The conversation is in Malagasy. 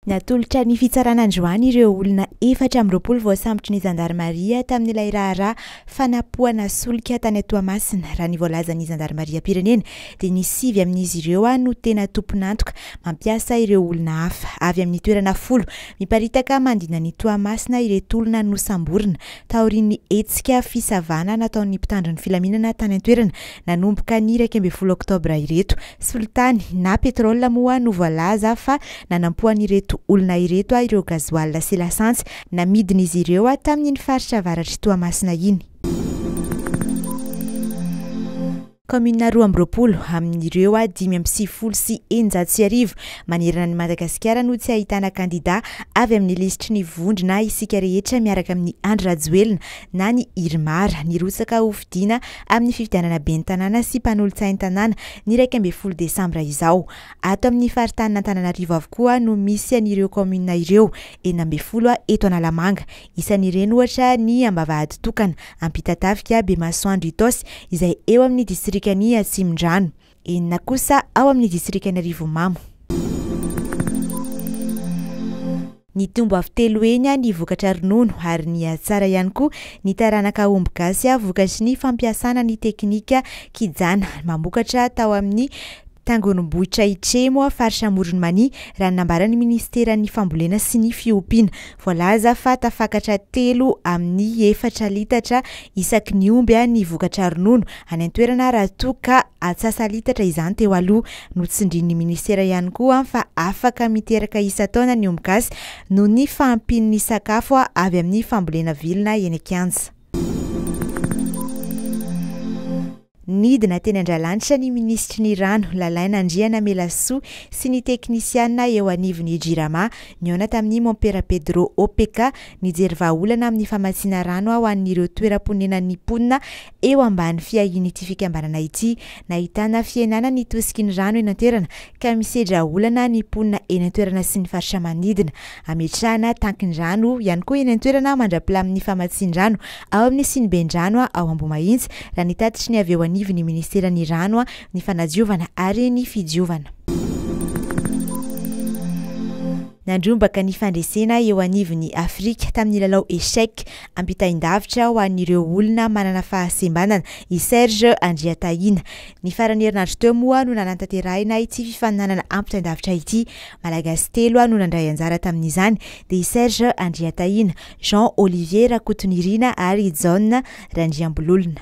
Natolotra ny fitsarana androany ireo olona efatra amby roapolo voasambotry ny zandarimaria tamin'ilay raharaha fanapohana solika tany Toamasina. Raha ny voalazan'ny zandarimariam-pirenena dia ny sivy amin'izy ireo no tena tompon'antoka mampiasa ireo olona hafa. Avy amin'ny toerana folo miparitaka manodidina an'i Toamasina ireto olona nosamborina taorian'ny hetsika fisavana nataon'ny mpitandro ny filaminana tany an-toerana nanomboka ny iraika ambin'ny folo oktobra ireto. Solitany na petrol moa no voalaza fa nanampoan'ireto olona ireto ireo gasoil sy lasantsy namidin'izy ireo tamin'iny faritra avaratr'i Toamasina iny. Kaominina roa amby roapolo amin'ireo dimy amby sivifolo sy eninjato sy arivo manerana an'i Madagasikara no tsy ahitana kandida avy amin'ny lisitry ny vondrona Isika Rehetra miaraka amin'i Andry Rajoelina na ny Irmar nirotsaka hofidiana amin'ny fifidianana ben'ny tanàna sy mpanolotsain'ny tanàna ny iraika ambin'ny folo desambra izao. Ato amin'ny faritanin'Antananarivo avokoa no misy an'ireo kaominina ireo, enina ambin'ny folo eto Analamanga. Isan'ireny ohatra ny Ambavahaditokana, Ampitatafika, Bemasoandro Itaosy izay eo amin'ny distrikan'i Atsimondrano. enina kosa ao amin'ny distrikan'i Arivomamo. Nitombo avy telo heny ny vokatra ronono ary nihatsara ihany koa ny taranaka omby gasy vokatry ny fampiasana ny teknika kijana mamokatra tao amin'ny tangonom-bohitra Itremo, faritra Amoron'i Mania, raha ny nambaran'ny minisiteran'ny Fambolena sy ny fiompiana. Voalaza fa tafakatra telo amin'ny efatra litatra isaky ny omby ny vokatra ronono any an-toerana raha toa ka atsasa-litatra izany teo aloha. Notsindrin'ny minisitera ihany koa fa afaka miteraka isan-taona ny omby gasy noho ny fahampian'ny sakafo avy amin'ny fambolena vilona eny an-kianja. Nidina teny Andralanitra ny minisitry ny Rano, Lalaina Andrianamelasoa, sy ny teknisiana eo anivon'ny Jirama, nihaona tamin'ny mompera Pedro OPK, nijery vahaolana amin'ny famatsiana rano ho an'ireo toeram-ponenan'ny mponina eo ambany fiahian'ity fikambanana ity. Nahitana fihenana ny tosiky ny rano eny an-toerana ka misedra olana ny mponina eny an-toerana sy ny faritra manodidina. Hametrahana tankin-drano ihany koa eny an-toerana mandra-pilamin'ny famatsian-drano ao amin'ny siniben-drano ao Ambohimahitsy, raha ny tatitry ny avy eo anivon'ny Ministeran'ny Rano, ny Fanadiovana ary ny Fidiovana. Nandrombaka ny fandresena eo anivon'ny Afrika tamin'ny lalao Echec ampitain-davitra ho an'ireo olona manana fahasembanana i Serge Andriatahina. Ny faran'ny herinandro teo moa no nanantanterahina ity fifaninanana ampitain-davitra ity Malagasy telo no nandray anjara tamin'izany dia i Serge Andriatahina, Jean Olivier Rakotonirina ary i John Randriambololona.